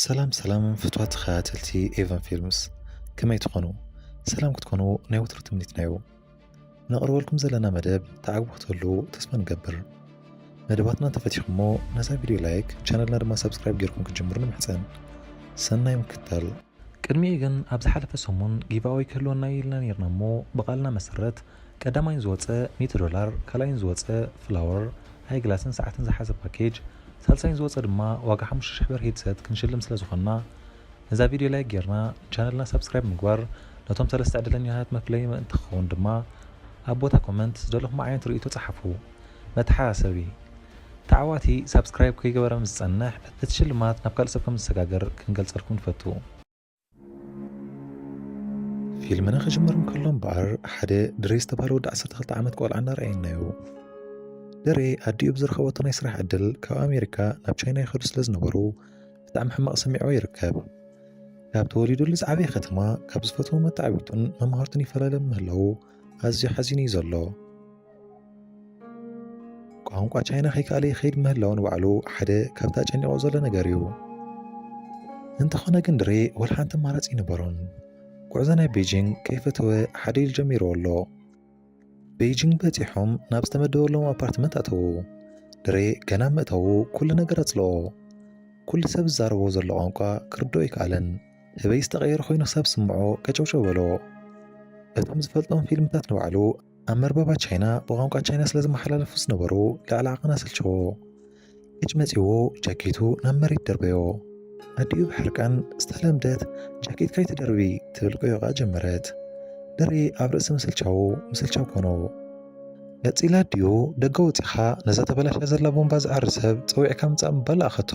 ሰላም ሰላም ፍትዋት ተኸታተልቲ ኤቨን ፊልምስ ከመይ ትኾኑ? ሰላም ክትኮኑ ናይ ወትሩ ትምኒትና እዩ። ነቕርበልኩም ዘለና መደብ ተዓግቡ ክትህሉ ተስፋ ንገብር። መደባትና ተፈቲኹሞ ነዛ ቪድዮ ላይክ፣ ቻነልና ድማ ሰብስክራይብ ጌርኩም ክትጅምሩ ንምሕጸን። ሰናይ ምክታል። ቅድሚኡ ግን ኣብ ዝሓለፈ ሰሙን ጊቫወይ ክህልወና እዩ ኢልና ኔርና እሞ ብቓልና መሰረት ቀዳማይን ዝወጸ ሚእቲ ዶላር፣ ካልኣይን ዝወጸ ፍላወር፣ ኣይግላስን ሰዓትን ዝሓዘ ፓኬጅ፣ ሳልሳይን ዝወጸ ድማ ዋጋ ሓሙሽተ ሽሕ ብር ሂድሰት ክንሽልም ስለ ዝኾንና ነዛ ቪድዮ ላይክ ጌርና ንቻነልና ሳብስክራይብ ምግባር ነቶም ሰለስተ ዕድለኛታት መፍለዪ ምእንቲ ክኸውን ድማ ኣብ ቦታ ኮመንት ዝደለኹሞ ዓይነት ርእይቶ ጸሓፉ። መተሓሳሰቢ፣ ተዓዋቲ ሳብስክራይብ ከይገበረ ምስ ዝጸንሕ እቲ ሽልማት ናብ ካልእ ሰብ ከም ዝሰጋገር ክንገልጸልኩም ንፈቱ። ፊልምና ክጅምር እንከሎ እምበኣር ሓደ ድሬ ዝተባህለ ወዲ 12 ዓመት ቆልዓ እናረኣየናዮ ድሬ ኣዲኡ ብዝረኸበቶ ናይ ስራሕ ዕድል ካብ ኣሜሪካ ናብ ቻይና ይኸዱ ስለ ዝነበሩ ብጣዕሚ ሕማቕ ሰሚዕዎ ይርከብ ካብ ተወሊዱሉ ዝዓበየ ከተማ ካብ ዝፈትዎ መታዕቢቱን መምሃርቱን ይፈላለ ምህላዉ ኣዝዩ ሓዚኑ እዩ ዘሎ ቋንቋ ቻይና ከይከኣለ ይኸይድ ምህላው ንባዕሉ ሓደ ካብታ ጨኒቆ ዘሎ ነገር እዩ እንተኾነ ግን ድሬ ወላ ሓንቲ ኣማራፂ ይነበሮን ጉዕዞ ናይ ቤጂንግ ከይፈተወ ሓደ ኢሉ ጀሚርዎ ኣሎ ቤጂንግ በፂሖም ናብ ዝተመደበሎም ኣፓርትመንት ኣተዉ ድሬ ገና ምእታዉ ኩሉ ነገር ኣፅልኦ ኩሉ ሰብ ዝዛረቦ ዘሎ ቋንቋ ክርድኦ ኣይከኣለን ህበይ ዝተቐየረ ኮይኑ ክሳብ ስምዖ ቀጨውጨው በሎ እቶም ዝፈልጦም ፊልምታት ንባዕሉ ኣብ መርበባ ቻይና ብቋንቋ ቻይና ስለ ዝመሓላለፉ ዝነበሩ ልዕሊ ዓቕን ኣሰልቸዎ እጭ መጺዎ ጃኬቱ ናብ መሬት ደርበዮ ኣዲኡ ብሕርቃን ዝተለምደት ጃኬት ካይትደርቢ ትብል ቆዮቓ ጀመረት ድሪ ኣብ ርእሲ ምስልቻው ምስልቻው ኮኖ ነጺላ ኣዲኡ ደገ ወጺኻ ነዛ ተበላሻ ዘላ ቦምባ ዝዓሪ ሰብ ጸዊዕካ ምጻእ ምባል ኣኸቶ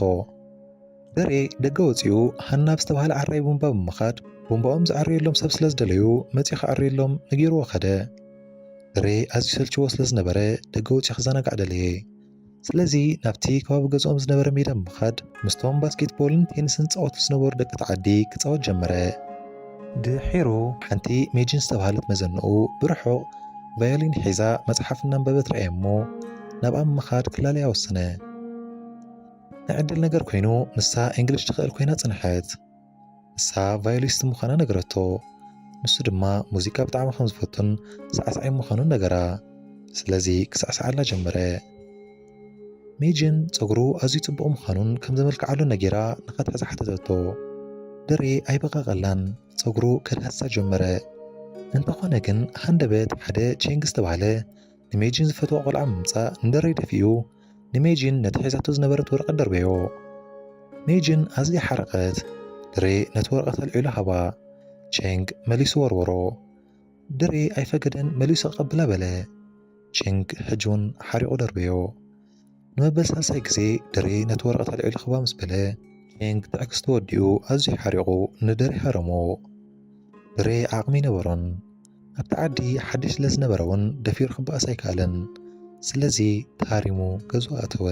በሬ ደገ ወጺኡ ሃና ኣብ ዝተባህለ ዓራይ ቡምባ ብምኻድ ቡምባኦም ዝዓርየሎም ሰብ ስለ ዝደለዩ መጺኡ ክዓርየሎም ነጊርዎ ከደ። በሬ ኣዝዩ ሰልችዎ ስለ ዝነበረ ደገ ወጺኡ ክዘናጋዕ ደለየ። ስለዚ ናብቲ ከባቢ ገዝኦም ዝነበረ ሜዳ ብምኻድ ምስቶም ባስኬትቦልን ቴንስን ዝጻወቱ ዝነበሩ ደቂ እቲ ዓዲ ክጻወት ጀመረ። ድሒሩ ሓንቲ ሜጂን ዝተባህለት መዘንኡ ብርሑቕ ቫዮሊን ሒዛ መጽሓፍ እናንበበት ረኣየ እሞ ናብኣ ብምኻድ ክላለያ ወሰነ። ንዕድል ነገር ኮይኑ ንሳ እንግሊሽ ትኽእል ኮይና ጽንሐት ንሳ ቫዮሊስት ምዃና ነገረቶ ንሱ ድማ ሙዚቃ ብጣዕሚ ከም ዝፈቱን ሳዕሳዒ ምዃኑን ነገራ ስለዚ ክሳዕሳዓላ ጀመረ ሜጅን ፀጉሩ ኣዝዩ ጽቡቕ ምዃኑን ከም ዘመልክዓሉ ነጌራ ንኸትሕዝ ሓተተቶ ድሬ ኣይበቐቐላን ፀጉሩ ከድሃሳ ጀመረ እንተኾነ ግን ሃንደበት ሓደ ቼንግ ዝተባህለ ንሜጂን ዝፈትዋ ቆልዓ ምምጻእ ንደረይ ደፊኡ ንሜጂን ነቲ ሒዛቶ ዝነበረት ወረቐት ደርበዮ። ሜጂን ኣዝያ ሓረቐት። ድሬ ነቲ ወረቐት ኣልዒሉ ሃባ። ቼንግ መሊሱ ወርወሮ። ድሬ ኣይፈገደን መሊሱ ክቐብላ በለ። ቼንግ ሕጂ እውን ሓሪቑ ደርበዮ። ንመበል ሳልሳይ ግዜ ደሬ ነቲ ወረቐት ኣልዒሉ ክባ ምስ በለ ቼንግ ትዕግስቲ ወዲኡ ኣዝዩ ሓሪቑ ንደሬ ሃረሞ። ደሬ ዓቕሚ ነበሮን ኣብቲ ዓዲ ሓድሽ ስለ ዝነበረ እውን ደፊሩ ክበኣስ ኣይከኣለን። ስለዚ ተሃሪሙ ገዙ ኣተወ።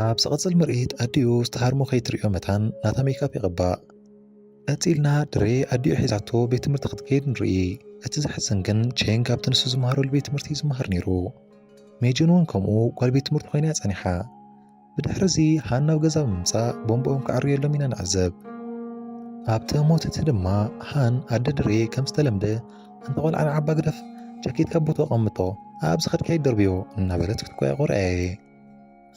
ኣብ ዝቕጽል ምርኢት ኣዲኡ ዝተሃርሞ ከይትርእዮ መታን ናታ ሜካፕ ይቕባእ። ቀጺልና ድሬ ኣዲኡ ሒዛቶ ቤት ትምህርቲ ክትከይድ ንርኢ። እቲ ዘሕዝን ግን ቼንግ ኣብቲ ንሱ ዝመሃረሉ ቤት ትምህርቲ እዩ ዝመሃር ነይሩ። ሜጂን እውን ከምኡ ጓል ቤት ትምህርቲ ኮይና እያ ጸኒሓ። ብድሕሪ እዚ ሃና ናብ ገዛ ብምምጻእ ቦምቦኦም ክዕርየሎም ኢና ንዕዘብ። ኣብቲ ሞት እቲ ድማ ሃን ኣደ ድሬ ከም ዝተለምደ ኣንታ ቆልዓ ንዓባ ግደፍ ጃኬት ካብ ቦታኡ ኣቐምጦ ኣብ ዝኸድካ ይደርብዮ እናበለት ክትቆያቆር ኣየ።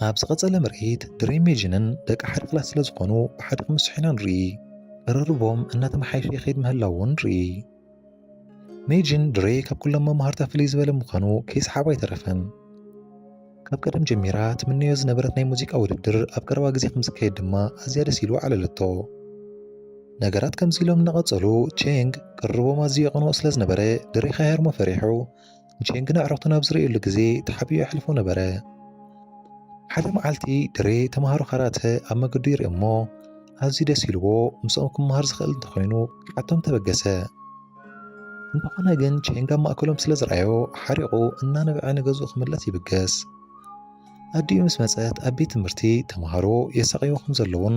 ኣብ ዝቐጸለ ምርኢት ድሬ ሜጂንን ደቂ ሓደ ክላስ ስለ ዝኾኑ ብሓደ ክምስሑ ኢና ንርኢ። ቅርርቦም እናተመሓየሸ ይኸይድ ምህላው እውን ንርኢ። ሜጂን ድሬ ካብ ኩሎም መማህርታ ፍልይ ዝበለ ምዃኑ ከይሰሓቦ ኣይተረፈን። ካብ ቀደም ጀሚራ ትምነዮ ዝነበረት ናይ ሙዚቃ ውድድር ኣብ ቀረባ ግዜ ከም ዝካየድ ድማ ኣዝያ ደስ ኢሉ ዓለለቶ። ነገራት ከምዚ ኢሎም እናቐጸሉ ቼንግ ቅርርቦም ኣዝዩ የቐንኦ ስለ ዝነበረ ድሬ ከይሃርሞ ፈሪሑ ንሼን ግን ኣዕሩኽቱን ኣብ ዝርእየሉ ግዜ ተሓቢኡ የሕልፎ ነበረ። ሓደ መዓልቲ ድሬ ተምሃሮ ካራተ ኣብ መገዱ ይርኢ እሞ ኣዝዩ ደስ ኢልዎ ምስኦም ክመሃር ዝኽእል እንተኾይኑ ክሓቶም ተበገሰ። እንተኾነ ግን ቼንግ ኣብ ማእከሎም ስለ ዝረኣዮ ሓሪቑ እናነበዐ ንገዝኡ ክምለስ ይብገስ። ኣዲኡ ምስ መጸት ኣብ ቤት ትምህርቲ ተምሃሮ የሳቕይዎ ከም ዘለውን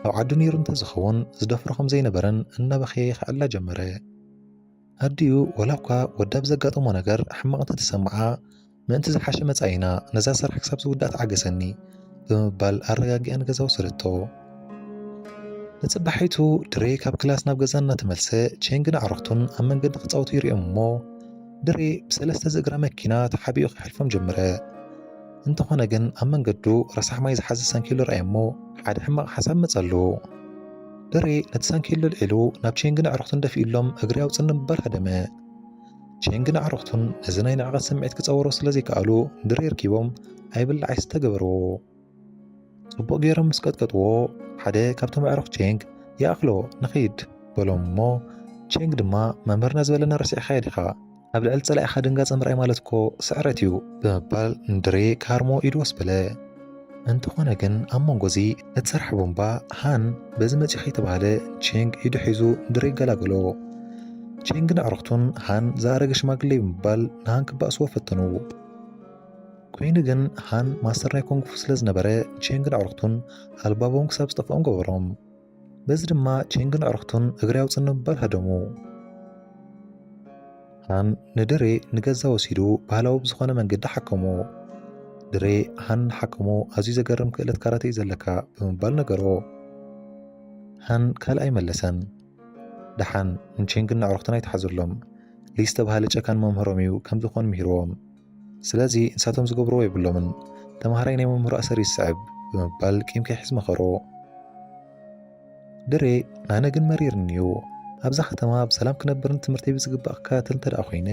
ኣብ ዓዱ ነይሩ እንተዝኸውን ዝደፍሮ ከም ዘይነበረን እናበኸየ ይኸዕላ ጀመረ። ኣዲኡ ወላኳ ወዳ ብዘጋጠሞ ነገር ሕማቕ እንተተሰምዓ ምእንቲ ዝሓሸ መጻኢና ነዛ ስራሕ ክሳብ ዝውዳእ ተዓገሰኒ ብምባል ኣረጋጊኣ ንገዛ ወሰደቶ። ንጽባሒቱ ድሬ ካብ ክላስ ናብ ገዛ እናተመልሰ ቼንግን ኣዕሩኽቱን ኣብ መንገዲ ክጻወቱ ይርኦም እሞ ድሬ ብሰለስተ ዝእግራ መኪና ተሓቢኡ ክሓልፎም ጀመረ። እንተኾነ ግን ኣብ መንገዱ ረሳሕ ማይ ዝሓዘ ሰንኪሉ ረኣየ እሞ ሓደ ሕማቕ ሓሳብ መጸሉ። ብሬ ነቲ ሳንኪሉ ኣልዒሉ ናብ ቼንግን ኣዕሩኽቱን ደፊኡሎም እግሪ ኣውፅኒ ምባል ሃደመ። ቼንግን ኣዕሩኽቱን ነዚ ናይ ንዕቐት ስምዒት ክፀወሮ ስለ ዘይከኣሉ ብሬ ርኪቦም ኣይብላዕ ኣይስተ ገበርዎ። ጽቡቕ ገይሮም ምስ ቀጥቀጥዎ ሓደ ካብቶም ኣዕሩኽ ቼንግ ይኣኽሎ ንኺድ በሎም እሞ ቼንግ ድማ መምህርና ዝበለና ረሲዕኻዮ ዲኻ ኣብ ልዕሊ ጸላኢኻ ድንጋጸ ምርኣይ ማለት እኮ ስዕረት እዩ ብምባል ንድሬ ካርሞ ኢዱ ወስ በለ። እንተኾነ ግን ኣብ መንጎ እዚ እትሰርሕ ቦምባ ሃን በዚ መጺኡ ከይተባህለ ቼንግ ኢዱ ሒዙ ንድሬ ገላገሎ። ቼንግን ኣዕሩኽቱን ሃን ዝኣረገ ሽማግሌ ብምባል ንሃን ክባእስዎ ፈተኑ። ኮይኑ ግን ሃን ማስተር ናይ ኮንግፉ ስለ ዝነበረ ቼንግን ኣዕሩኽቱን ኣልባቦም ክሳብ ዝጠፍኦም ገበሮም። በዚ ድማ ቼንግን ኣዕርኽቱን እግሪ ኣውፅን ንምባል ሃደሙ። ሃን ንድሬ ንገዛ ወሲዱ ባህላዊ ብዝኾነ መንገዲ ሓከሞ። ድሬ ሃን ሓከሞ ኣዝዩ ዘገርም ክእለት ካራቴ እዩ ዘለካ ብምባል ነገሮ። ሃን ካልእ ኣይመለሰን። ደሓን ንቼንግን ኣዕርኽቱን ኣይትሓዘሎም። ሊ ዝተባህለ ጨካን መምህሮም እዩ ከምዚ ክኾን ምሂርዎም። ስለዚ ንሳቶም ዝገብርዎ የብሎምን፣ ተምሃራይ ናይ መምህሩ ኣሰር ይስዕብ ብምባል ቂም ከይሕዝ መኸሮ። ድሬ ኣነ ግን መሪርኒ እዩ ኣብዛ ከተማ ብሰላም ክነብርን ትምህርተይ ብዝግባእ ክከታተል እንተደኣ ኮይነ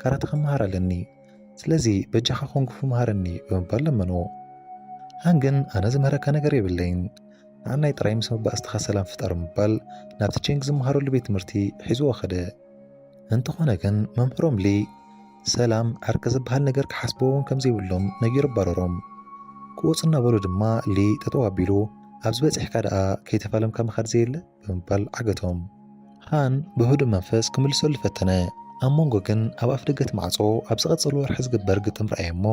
ካራተ ክመሃር ኣለኒ ስለዚ በጃኻ ኮንግፉ መሃረኒ ብምባል ለመኖ ሃን ግን ኣነ ዝምህረካ ነገር የብለይን ንዓናይ ጥራይ ምስ መባእስትኻ ሰላም ፍጠር ምባል ናብቲ ቼንግ ዝመሃረሉ ቤት ትምህርቲ ሒዝዎ ኸደ እንተኾነ ግን መምህሮም ሊ ሰላም ዕርቂ ዝበሃል ነገር ክሓስብዎ እውን ከምዘይብሎም ነጊሩ ኣባረሮም ክወፁ እናበሉ ድማ ሊ ጠጠው ኣቢሉ ኣብዚ በፂሕካ ደኣ ከይተፋለምካ ምኻድ ዘየለ ብምባል ዓገቶም ሃን ብህዱእ መንፈስ ክምልሰሉ ፈተነ ኣብ መንጎ ግን ኣብ ኣፍ ደገት ማዕፆ ኣብ ዝቐፀሉ ወርሒ ዝግበር ግጥም ረኣየ እሞ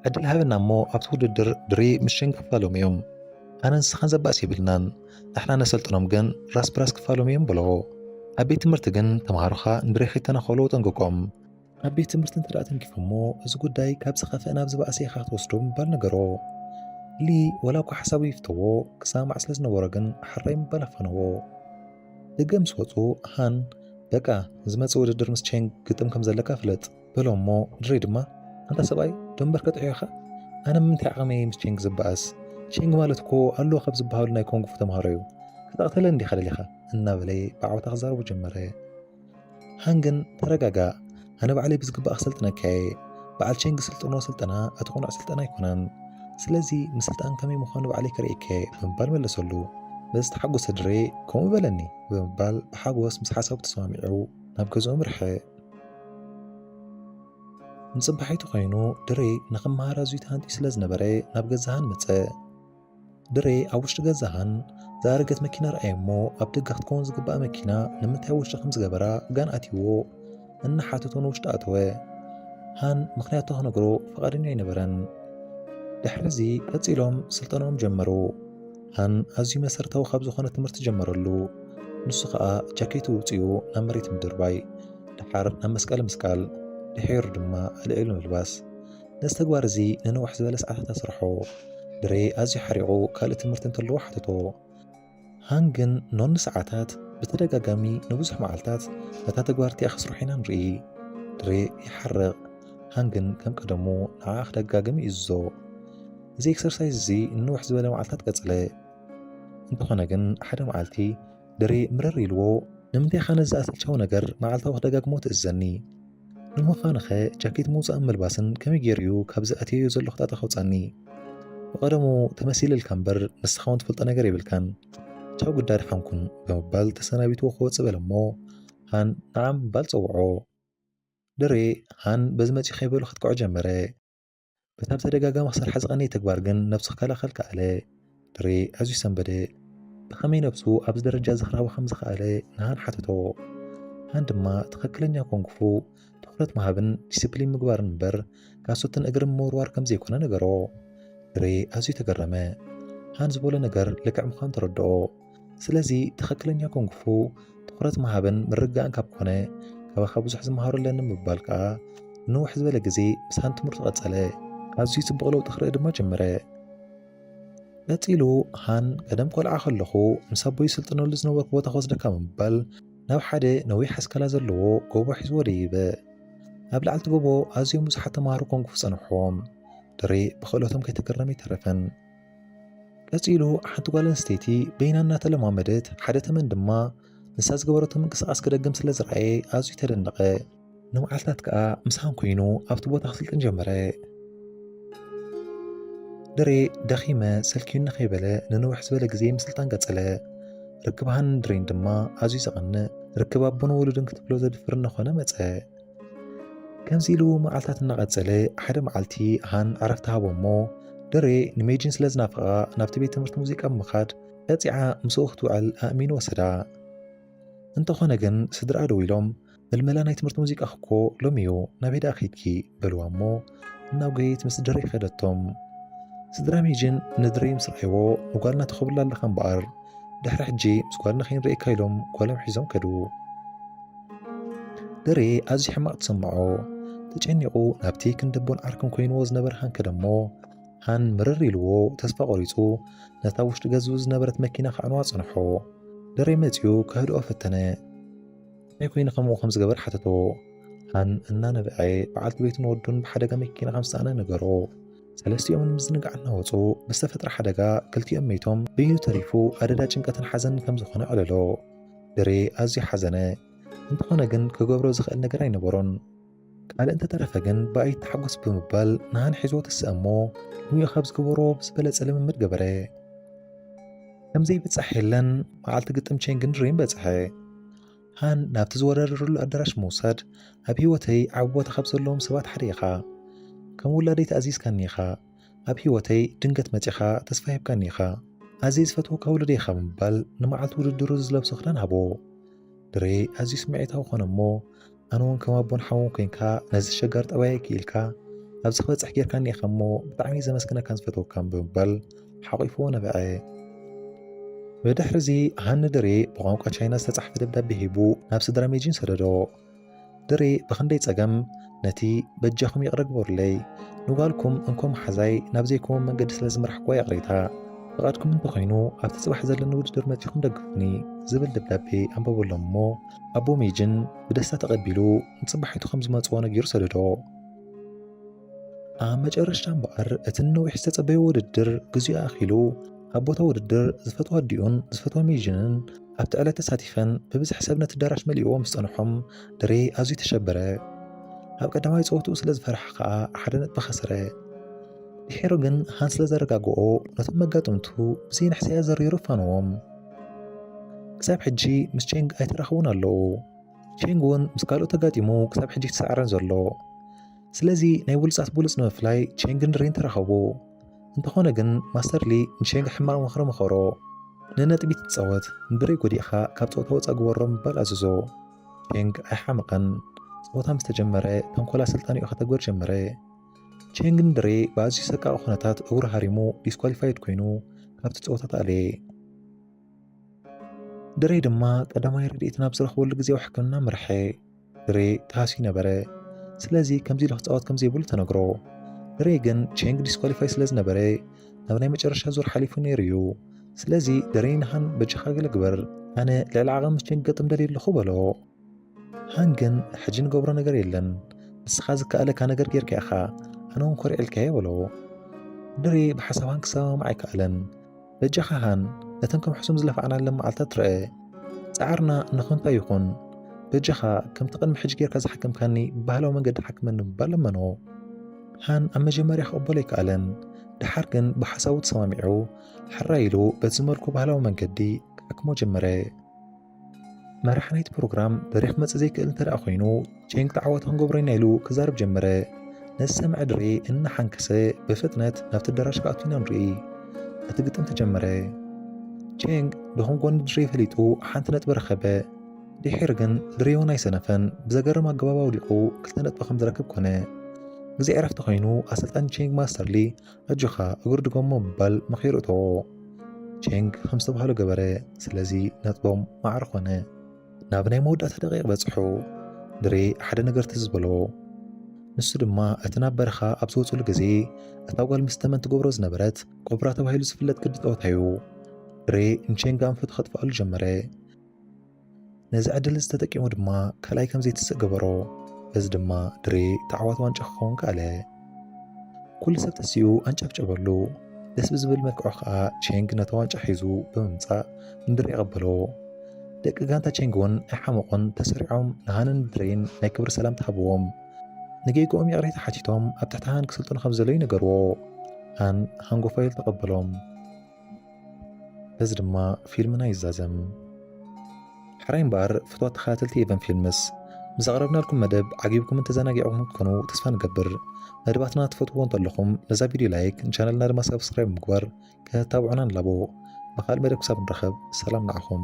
ዕድል ሃበና እሞ ኣብቲ ውድድር ድሪ ምሽን ክፋሎም እዮም ኣነ ንስኻን ዘባእሲ የብልናን ንሕና ነሰልጥኖም ግን ራስ ብራስ ክፋሎም እዮም በሎ ኣብ ቤት ትምህርቲ ግን ተምሃሮኻ ንድሬ ከይተናኸሉ ጠንቅቆም ኣብ ቤት ትምህርቲ እንተ ደኣ ተንኪፎሞ እዚ ጉዳይ ካብ ዝኸፍአ ናብ ዝበኣሰ ኢኻ ክትወስዶ ምባል ነገሮ ሊ ወላ እኳ ሓሳቡ ይፍተዎ ክሰማማዕ ስለ ዝነበሮ ግን ሓራይ ምባል ኣፋነዎ ደገ ምስ ወፁ ሃን በቃ ንዝመፅእ ውድድር ምስ ቼንግ ግጥም ከም ዘለካ ፍለጥ በሎ እሞ ድረይ ድማ ኣንታ ሰብኣይ ደንበር ከጥዕዮኻ ኣነ ምንታይ ዓቕመይ ምስ ቼንግ ዝበኣስ ቼንግ ማለት እኮ ኣሉ ካብ ዝበሃሉ ናይ ኮንግፉ ተምሃሮ እዩ ከተቕተለ እንዲኻ ደሊኻ እናበለ ብዓወታ ክዛረቡ ጀመረ ሃንግን ተረጋጋ ኣነ ባዕለይ ብዝግባእ ክሰልጥነካ እየ በዓል ቼንግ ስልጥኖ ስልጠና እቲ ቁኑዕ ስልጠና ኣይኮነን ስለዚ ምስልጣን ከመይ ምዃኑ ባዕለይ ከርእየከ ብምባል መለሰሉ በዚ ተሓጎሰ ድሬ ከምኡ በለኒ ብምባል ብሓጎስ ምስ ሓሳቡ ተሰማሚዑ ናብ ገዝኦም ርሐ ንጽባሒቱ ኮይኑ ድሬ ንኽመሃር ኣዝዩ ተሃንጢ ስለ ዝነበረ ናብ ገዛሃን መጸ። ድሬ ኣብ ውሽጢ ገዛሃን ዝኣረገት መኪና ረኣየ እሞ ኣብ ደገ ክትከውን ዝግባኣ መኪና ንምንታይ ኣብ ውሽጢ ከም ዝገበራ ጋን ኣትይዎ እናሓተቶ ንውሽጢ ኣተወ። ሃን ምክንያቱ ክነግሮ ፈቃደኛ ኣይነበረን። ድሕርዚ ቀጺሎም ስልጠናኦም ጀመሩ። ሃን ኣዝዩ መሰረታዊ ካብ ዝኾነ ትምህርቲ ጀመረሉ። ንሱ ኸኣ ጃኬቱ ኣውጺኡ ናብ መሬት ምድርባይ፣ ደሓር ናብ መስቀሊ ምስቃል፣ ድሒሩ ድማ ኣልዒሉ ምልባስ። ነዚ ተግባር እዚ ንንውሕ ዝበለ ሰዓታት ኣስርሖ። ድሬ ኣዝዩ ሓሪቑ ካልእ ትምህርቲ እንተለዎ ሓተቶ። ሃን ግን ኖን ንሰዓታት ብተደጋጋሚ ንብዙሕ መዓልታት ነታ ተግባር እቲኣ ክስርሑ ኢና ንርኢ። ድሬ ይሓርቕ፣ ሃን ግን ከም ቀደሙ ንዓኣ ክደጋግም ይእዝዞ። እዚ ኤክሰርሳይዝ እዚ ንውሕ ዝበለ መዓልታት ቀጽለ እንተኾነ ግን ሓደ መዓልቲ ድሪ ምርር ኢልዎ ንምንታይ ኻነ ዝኣሰልቸው ነገር መዓልታዊ ክደጋግሞ ትእዘኒ ንምዃንኸ ጃኬት ምውፃእን ምልባስን ከመይ ገይሩ እዩ ካብዚ ኣትየዮ ዘለኹ ጣጣ ከውፃኒ ብቐደሙ ተመሲልልካ እምበር ንስኻ እውን ትፈልጦ ነገር የብልካን ቻው ግዳድ ሓንኩን ብምባል ተሰናቢቱ ክወፅእ በለ እሞ ሃን ንዓም ባል ፀውዖ ድሬ ሃን በዚ መፂ ከይበሉ ከጥቅዖ ጀመረ በታ ብተደጋጋሚ ክሰርሓ ዝቐነየ ተግባር ግን ነብሱ ክከላኸል ከኣለ። ድሬ ኣዝዩ ሰንበደ። ብኸመይ ነብሱ ኣብዚ ደረጃ እዚ ክረኽባ ከም ዝኸኣለ ንሃን ሓተቶ። ሃን ድማ ትኽክለኛ ኮንግፉ ትኹረት ምሃብን ዲስፕሊን ምግባርን እምበር ካሶትን እግርን ምውርዋር ከም ዘይኮነ ነገሮ። ድሬ ኣዝዩ ተገረመ። ሃን ዝበሎ ነገር ልክዕ ምዃኑ ተረድኦ። ስለዚ ትኽክለኛ ኩንግፉ ትኹረት ምሃብን ምርጋእን ካብ ኮነ ካባኻ ብዙሕ ዝመሃሩ ኣለኒ ምባል ከዓ ንውሕ ዝበለ ግዜ ምሳን ትምህርቱ ቀጸለ። ኣዝዩ ጽቡቕ ለውጢ ክርኢ ድማ ጀመረ። ቀጺሉ ሃን ቀደም ቆልዓ ከለኹ ምስ ኣቦይ ስልጥነሉ ዝነበርኩ ቦታ ክወስደካ ምባል ናብ ሓደ ነዊሕ ኣስካላ ዘለዎ ጎቦ ሒዝዎ ደይበ። ኣብ ላዕልቲ ጎቦ ኣዝዮም ብዙሓት ተምሃሮ ኮንግፉ ጸንሖም። ድሬ ብክእለቶም ከይተገረመ ኣይተረፈን። ቀጺሉ ሓንቲ ጓል ኣንስተይቲ በይና እናተለማመደት ሓደ ተመን ድማ ንሳ ዝገበረቶ ምንቅስቓስ ክደግም ስለ ዝረኣየ ኣዝዩ ተደነቐ። ንመዓልታት ከኣ ምሳን ኮይኑ ኣብቲ ቦታ ክስልጥን ጀመረ። ድሬ ደኺመ ሰልኪዩኒ ከይበለ ንንውሕ ዝበለ ግዜ ምስልጣን ቀጸለ። ርክብ ሃንን ድሬን ድማ ኣዝዩ ዘቐንእ ርክብ ኣቦን ወሉድን ክትብሎ ዘድፍር እናኾነ መጸ። ከምዚ ኢሉ መዓልታት እናቐጸለ ሓደ መዓልቲ ሃን ዕረፍቲ ሃቦሞ ድሬ ንሜጂን ስለ ዝናፍቓ ናብቲ ቤት ትምህርቲ ሙዚቃ ብምኻድ ቀጺዓ ምስኡ ክትውዕል ኣእሚኑ ወሰዳ። እንተኾነ ግን ስድራ ደው ኢሎም ምልመላ ናይ ትምህርቲ ሙዚቃ እኮ ሎሚ እዩ ናብ ሄዳ ከይድኪ በልዋ እሞ ናብ ገይት ምስ ድረይ ከደቶም ስድራ ሜጅን ንድረይ ምስ ረኣይዎ ንጓልና ትኸብላ ኣለኻ እምበኣር ድሕሪ ሕጂ ምስ ጓልና ከይንርእየካ ኢሎም ጓሎም ሒዞም ከዱ ድሬ ኣዝዩ ሕማቕ ተሰምዖ ተጨኒቑ ናብቲ ክንደቦን ዓርክን ኮይንዎ ዝነበረ ሃን ከደሞ ሃን ምርር ኢልዎ ተስፋ ቆሪጹ ነታ ውሽጢ ገዝኡ ዝነበረት መኪና ከዕንዋ ጸንሖ ድሬ መጺኡ ከህድኦ ፈተነ ከመይ ኮይኑ ከምኡ ከም ዝገበር ሓተቶ። ሃን እናነብዐ በዓልቲ ቤቱን ወዱን ብሓደጋ መኪና ከም ዝተሳእነ ነገሮ። ሰለስቲኦም ንምዝንጋዕ እናወፁ ብዝተፈጥረ ሓደጋ ክልቲኦም መይቶም ብይኑ ተሪፉ ኣደዳ ጭንቀትን ሓዘንን ከም ዝኾነ ዕለሎ ድሬ ኣዝዩ ሓዘነ እንተኾነ ግን ክገብሮ ዝኽእል ነገር ኣይነበሮን ካልእ እንተተረፈ ግን ብኣይተሓጎስ ብምባል ንሃን ሒዞ ተስእ እሞ ንዮ ካብ ዝገበሮ ብዝበለጸ ልምምድ ገበረ። ከምዘይብጻሕ የለን መዓልቲ ግጥም ቼንግን ድሬን በጽሐ። ሃን ናብቲ ዝወዳደረሉ ኣዳራሽ ምውሳድ ኣብ ህይወተይ ዓቢ ቦታ ካብ ዘለዎም ሰባት ሓደ ኢኻ ከም ውላደይ ተኣዚዝካኒ ኢኻ ኣብ ህይወተይ ድንገት መጺኻ ተስፋ ሂብካኒ ኢኻ ኣዝየ ዝፈትወካ ውልደ ኢኻ ብምባል ንመዓልቲ ውድድሩ ዝለብሶ ክዳን ሃቦ ድሬ ኣዝዩ ስምዒታዊ ኮነ እሞ ኣነ እውን ከም ኣቦን ሓውን ኮንካ ነዚ ሸጋር ጠባየይ ክኢልካ ኣብዚ ክበፅሕ ጌርካኒ ኢኻ እሞ ብጣዕሚ ዘመስግነካን ዝፈትወካን ብምባል ሓቂፎ ነበዐ ብድሕርዚ ሃኒ ድሬ ብቋንቋ ቻይና ዝተጻሕፈ ደብዳቤ ሂቡ ናብ ስድራ ሜጂን ሰደዶ ድሬ ብክንደይ ጸገም ነቲ በጃኹም ይቕረ ግበሩለይ ንጓልኩም እንኮ መሓዛይ ናብ ዘይኮም መንገዲ ስለ ዝመራሕኳ ይቕሬታ ፍቓድኩም እንተኾይኑ ኣብቲ ጽባሕ ዘለኒ ውድድር መጺኹም ደግፉኒ ዝብል ደብዳቤ ኣንበበሎም እሞ ኣቦ ሜጅን ብደስታ ተቐቢሉ ንጽባሒቱ ከም ዝመጽኦ ነጊሩ ሰደዶ ኣብ መጨረሻ እምበኣር እቲ ነዊሕ ዝተጸበየ ውድድር ግዜኡ ኣኺሉ ኣብ ቦታ ውድድር ዝፈትዎ ኣዲኡን ዝፈትዎ ሜዥንን ኣብቲ ዕለት ተሳቲፈን ብብዝሒ ሰብ ነቲ ኣዳራሽ መሊእዎ ምስ ጸንሖም ድሬ ኣዝዩ ተሸበረ ኣብ ቀዳማይ ጸወትኡ ስለ ዝፈርሐ ከኣ ሓደ ነጥቢ ኸሰረ ድሒሩ ግን ሃን ስለ ዘረጋግኦ ነቶም መጋጥምቱ ብዘይንሕስያ ዘሪሩ ፋንዎም ክሳብ ሕጂ ምስ ቼንግ ኣይተራኸቡን ኣለዉ። ቼንግ እውን ምስ ካልኦት ተጋጢሙ ክሳብ ሕጂ ተሰዓረን ዘሎ። ስለዚ ናይ ብሉፃት ብሉፅ ንምፍላይ ቼንግን ሪን ተራኸቡ። እንተኾነ ግን ማስተርሊ ንቼንግ ሕማቕ ምኽሪ መኸሮ። ንነጥቢ ትፃወት እምብሪ ጎዲእኻ ካብ ፀወታ ወፃእ ግበሮ ምባል ኣዘዞ። ቼንግ ኣይሓመቐን። ፀወታ ምስ ተጀመረ ተንኮል ኣሰልጣኒኡ ከተግበር ጀመረ። ቼንግን ድሬ ብኣዝዩ ሰቃቂ ኩነታት እግሩ ሃሪሙ ዲስኳሊፋይድ ኮይኑ ካብቲ ፀወታ ተኣለየ። ድሬ ድማ ቀዳማይ ረድኤት ናብ ዝረኽበሉ ግዜያዊ ሕክምና ምርሐ። ድሬ ተሃስዩ ነበረ። ስለዚ ከምዚ ኢሉ ክፃወት ከምዘይብሉ ተነግሮ። ድሬ ግን ቼንግ ዲስኳሊፋይ ስለ ዝነበረ ናብ ናይ መጨረሻ ዙር ሓሊፉ ነይሩ እዩ። ስለዚ ድሬ ንሃን በጃኻ ገለ ግበር፣ ኣነ ልዕሊ ዓቐን ምስ ቼንግ ገጥም ደልየ ኣለኹ በሎ። ሃን ግን ሕጂ ንገብሮ ነገር የለን ንስኻ ዝከኣለካ ነገር ጌርካ ኢኻ ኣነ እውን ኮሪዕልካየ በሎ ድሬ ብሓሳብ ሃን ክሰማማዕ ኣይከኣለን በጃኻ ሃን ነተን ከም ሕሱም ዝለፋዕናለን መዓልታት ትርአ ጻዕርና ንኸንቶ ይኹን በጃኻ ከምቲ ቅድሚ ሕጂ ጌርካ ዝሓከምካኒ ብባህላዊ መንገዲ ሓክመኒ ምባል ለመኖ ሃን ኣብ መጀመርያ ክቕበሎ ኣይከኣለን ድሓር ግን ብሓሳቡ ተሰማሚዑ ሕራይ ኢሉ በቲ ዝመልኩ ባህላዊ መንገዲ ክሓክሞ ጀመረ መራሕ ናይቲ ፕሮግራም በሪኽ ክመጽእ ዘይክእል እንተ ኮይኑ ጨንቂ ተዓዋቲ ክንገብሮ ኢና ኢሉ ክዛርብ ጀመረ ነዚ ሰምዐ ድሬ እናሓንከሰ ብፍጥነት ናብቲ ኣዳራሽ ክኣቱ ኢና ንርኢ እቲ ግጥም ተጀመረ ቼንግ ድኹም ጎኒ ድሬ ፈሊጡ ሓንቲ ነጥቢ ረኸበ ድሒር ግን ድሬ እውን ኣይሰነፈን ብዘገርም ኣገባብ ኣውዲቑ ክልተ ነጥቢ ከም ዝረክብ ኮነ ግዜ ዕረፍቲ ኮይኑ ኣሰልጣኒ ቼንግ ማስተርሊ ሕጂ ኸኣ እግሩ ድገሞ ምባል መኺሩ እተዎ። ቼንግ ኸም ዝተባህሎ ገበረ። ስለዚ ነጥቦም ማዕረ ኾነ። ናብ ናይ መወዳእታ ደቂቕ በጽሑ። ድሬ ሓደ ነገር ትዝ በሎ። ንሱ ድማ እቲ ናብ በረኻ ኣብ ዝወጽሉ ግዜ እታ ጓል ምስ ተመን ትገብሮ ዝነበረት ኮብራ ተባሂሉ ዝፍለጥ ቅዲ ጸወታ እዩ። ድሬ ንቼንግ ኣንፈቱ ከጥፍኣሉ ጀመረ። ነዚ ዕድል እዚ ተጠቂሙ ድማ ካልኣይ ከም ዘይትስእ ገበሮ። በዚ ድማ ድሬ ተዓዋቲ ዋንጫ ክኸውን ከኣለ። ኩሉ ሰብ ተሲኡ ኣንጨብጨበሉ። ደስ ብዝብል መልክዑ ከዓ ቼንግ ነታ ዋንጫ ሒዙ ብምምፃእ ንድሬ ኣቐበሎ። ደቂ ጋንታ ቼንግ እውን ኣይሓመቑን፣ ተሰሪዖም ንሃንን ድሬን ናይ ክብሪ ሰላምታ ሃብዎም። ንጌግኦም ይቕሬታ ሓቲቶም ኣብ ትሕቲ ሃን ክስልጥኑ ከም ዘለዉ ነገርዎ። ሃን ሃንጎፋይል ተቐበሎም። በዚ ድማ ፊልምና ይዛዘም። ሕራይ እምበኣር ፍትዋት ተኸታተልቲ ኤቨን ፊልምስ ምስ ኣቕረብናልኩም መደብ ዓጊብኩምን ተዘናጊዕኹም ክትኮኑ ተስፋ ንገብር። መደባትና ትፈትዎ እንተለኹም ነዛ ቪድዮ ላይክ ንቻነልና ድማ ሳብስክራይብ ምግባር ከተታብዑና ንላቦ። ብኻልእ መደብ ክሳብ ንራኸብ ሰላም ንዓኹም።